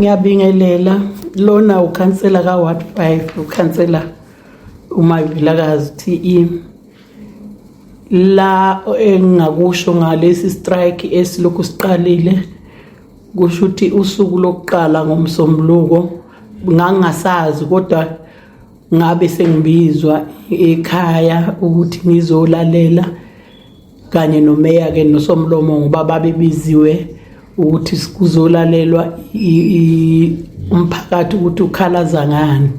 ngiyabingelela lona ukhansela ka-ward five ukhansela umavilakazi t e la engingakusho ngalesi strike esilokhu siqalile kusho ukuthi usuku lokuqala ngomsombuluko ngangingasazi kodwa ngabe sengibizwa ekhaya ukuthi ngizolalela kanye nomeya ke nosomlomo ngoba babebiziwe ukuthi kuzolalelwa umphakathi ukuthi ukhalaza ngani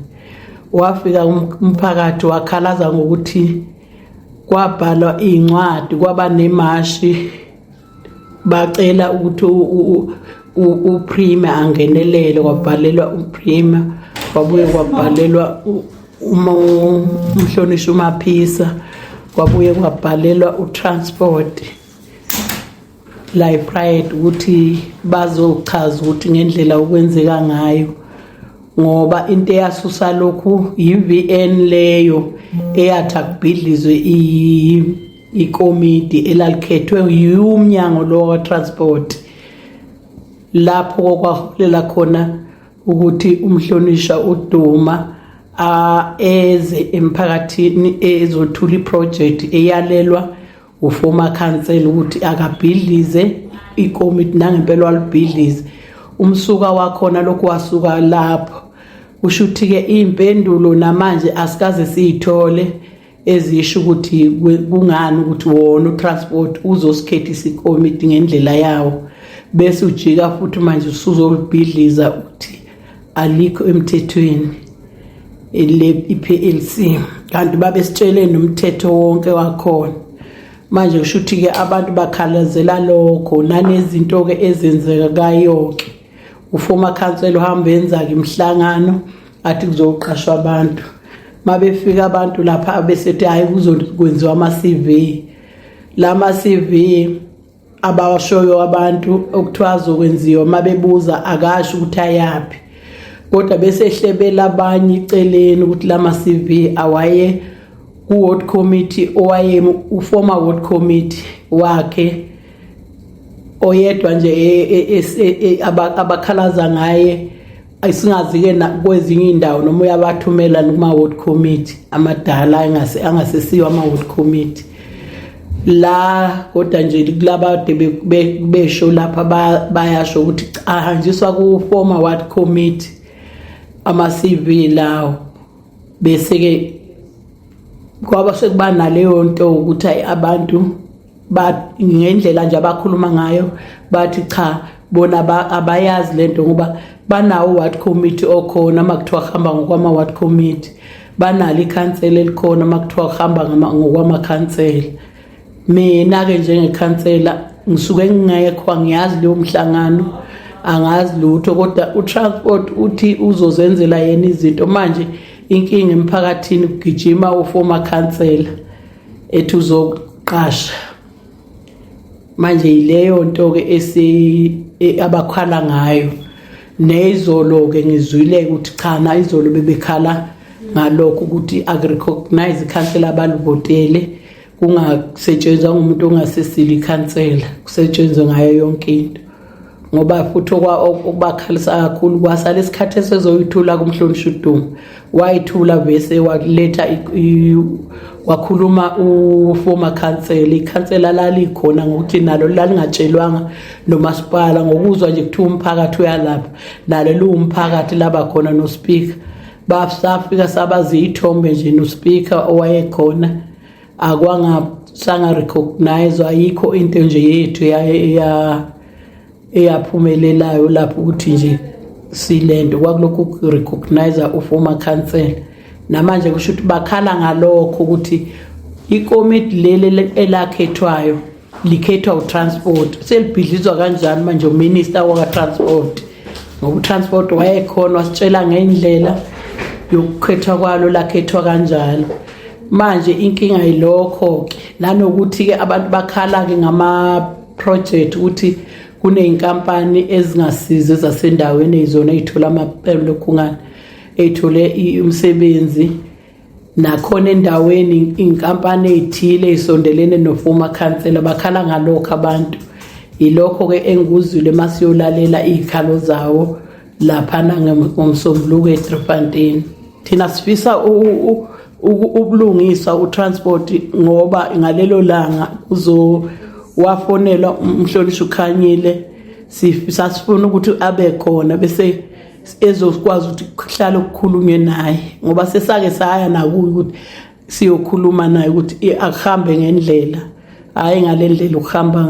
wafika um-, umphakathi wakhalaza ngokuthi kwabhalwa iy'ncwadi kwaba nemashi bacela ukuthi uprime angenelele kwabhalelwa uprime kwabuye kwabhalelwa uma umhlonishwa umaphisa kwabuye kwabhalelwa utransport la epride ukuthi bazochaza ukuthi ngendlela okwenzeka ngayo ngoba into eyasusa lokhu yi-vn leyo eyathi akubhidlizwe ikomidi elalikhethwe yiwumnyango lo wakwa-transport lapho kokwaholela khona ukuthi umhlonishwa uDuma eze emphakathini ezothula iproject eyalelwa uformer council ukuthi akabhidlize ikomiti nangempela walibhidlize umsuka wakhona lokhu wasuka lapho usho ukuthi-ke iy'mpendulo namanje asikaze siyithole ezisho ukuthi kungani ukuthi wona utransport uzosikhethisa ikomiti ngendlela yawo bese ujika futhi manje usuzolibhidliza ukuthi alikho emthethweni i-PLC kanti babesitshele nomthetho wonke wakhona manje kusho ukuthi-ke abantu bakhalazela lokho nanezinto-ke ezenzeka kayoke ufoma khansela uhamba yenza-ke imihlangano athi kuzoqashwa abantu uma befika abantu lapha besethi hhayi kuzokwenziwa ama-cv la ma-cv abawashoyo abantu okuthiwa azokwenziwa uma bebuza akasho ukuthi ayaphi kodwa bese ehlebela abanye iceleni ukuthi la ma-cv awaye ku-ward committee owaye uformer ward committee wakhe oyedwa nje e, e, e, abakhalaza ngaye singazi-ke kwezinye iy'ndawo noma uyabathumela kuma-ward committee amadala angasesiwo ama-ward committee la kodwa nje kulaba de besho lapha bayasho ukuthi ahanjiswa ku-former ward committee ama-cv lawo bese-ke kwaba sekuba naleyo nto ukuthi abantu but ngendlela nje abakhuluma ngayo bathi cha bona abayazi lento ngoba banawo ward committee okhona makuthiwa hamba ngokwama ward committee banalo ikhansela elikhona makuthiwa hamba ngokwama khansela mina ke njengekhansela ngisuke ngingekho angiyazi leyo mhlangano angazi lutho kodwa utransport uthi uzozenzela yena izinto manje inkinga emphakathini kugijima uformer khansela ethi uzoqasha manje yileyo nto ke esi e, abakhala ngayo nezolo ke ngizwile ukuthi cha na izolo bebekhala ngalokho ukuthi agrecognize ikhansela abalivotele kungasetshenzwa ngumuntu ongasesile ikhansela kusetshenzwe ngayo yonke into ngoba futhi okubakhalisa kakhulu kwasala isikhathi esezoyithula kumhlonishwa udumo wayithula bese waletha wakhuluma uformer council ikhansela lalikhona ngokuthi nalo lalingatshelwanga nomasipala ngokuzwa nje kuthiwa umphakathi uyalapha nalo liwumphakathi laba khona nospeaker basafika sabazi ithombe nje nospeaker owayekhona akwangasanga recognize ayikho into nje yethu ya eyaphumelelayo lapho ukuthi nje silento kwakulokhu recognize u former council namanje kusho ukuthi bakhala ngalokho ukuthi ikomiti leli elakhethwayo likhethwa utransport selibhidlizwa kanjani manje uminister wakatransport ngoba utransport wayekhona wasitshela ngendlela yokukhethwa kwalo lakhethwa kanjalo manje inkinga yilokho-ke nanokuthi-ke abantu bakhala-ke ngama-project ukuthi kuney'nkampani ezingasizi ezasendaweni eyizona ey'thola amaphepha lokhungana ey'thole umsebenzi nakhona endaweni inkampani eyithile isondelene nofoma khansela bakhala ngalokho abantu yilokho ke engikuzwile masiyolalela izikhalo zawo laphana ngomsombuluko eDriffontein thina sifisa ubulungisa utransport ngoba ngalelo langa kuzo wafonela umhlonishwa ukhanyile sifisa sifuna ukuthi abe khona bese ezokwazi ukuthi kuhlale kukhulunywe naye ngoba sesake saya nakuye ukuthi siyokhuluma naye ukuthi akuhambe ngendlela hhayi ngale ndlela ukuhamba ngayo